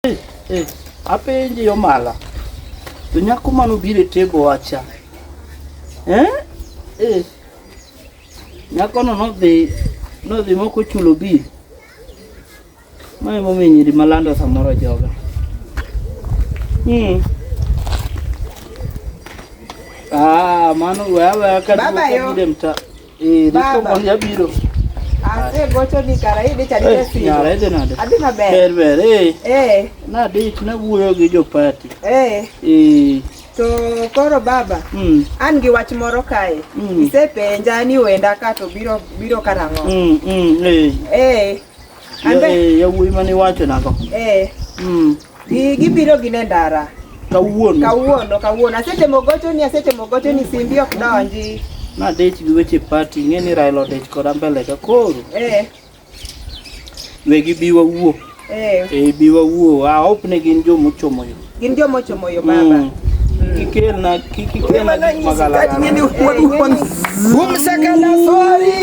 Hey, hey, apenji yo mala. To nyako mano bire tego wacha. Eh? Eh. Nyako no no dhi no dhi moko chulo bi. Mae momi nyiri malando samoro joga. Hmm. Ah, mano wewe kadri mta. Eh, Baba. Niko biro. Ase gocho ni kara hii dicha dite si. Nyara ede nade. Adi maber. Ber ber eh. Eh. Na dit na wuoyo gi jo party. Eh. Eh. To koro baba, mm. an gi wach moro kae. Mm. Isepenja ni wenda ka to biro biro karang'o. Mm, mm, eh. Eh. Ande. Ya, eh, ya wuoyi mane iwacho nago. Eh. Mm. Gi- Gibiro gin e ndara Kawuono. kawuono kawuono. Asetemo gochoni, asetemo gochoni, simbi ok donji. Nadich gi weche party, ing'e ni Raila odich koda mbele ka koro. Eh, Wegi bi wawuo. eh, Eh, bi wawuo. I hope ni gin joma ochomo yo. gin joma ochomo yo baba. Mm. Kik ikelna, kik ikelna gik magalagala. Umsakala sorry.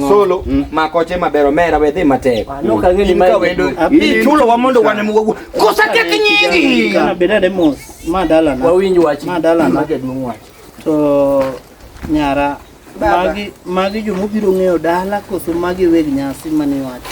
Solo mm. makoche maber omera we dhi matek. Ah, no ka ngeni ma wendo. Bi chulo wa mondo wane mugo. Kosa tek nyingi. Kana bedade mos. Ma dala na. Wawinj wach. Ma dala na jaduong wach. To nyara magi magi jomobiro ng'eyo dala koso magi weg nyasi mane wacho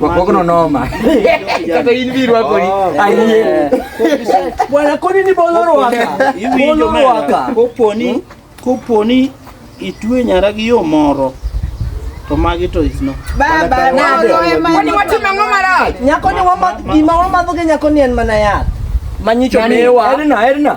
Wakokono noma. Kata in biro wako ni. Oh. Ayie. Bwana koni ni boloro waka. Boloro waka. Koponi hmm? koponi itwe nyara gi yo moro. To magi to is no. Baba na do ema. Koni watimo ng'o marach? Nyako ni wama gima wamadho gi nyako ni en mana yath. Manyicho mewa. Erna erna.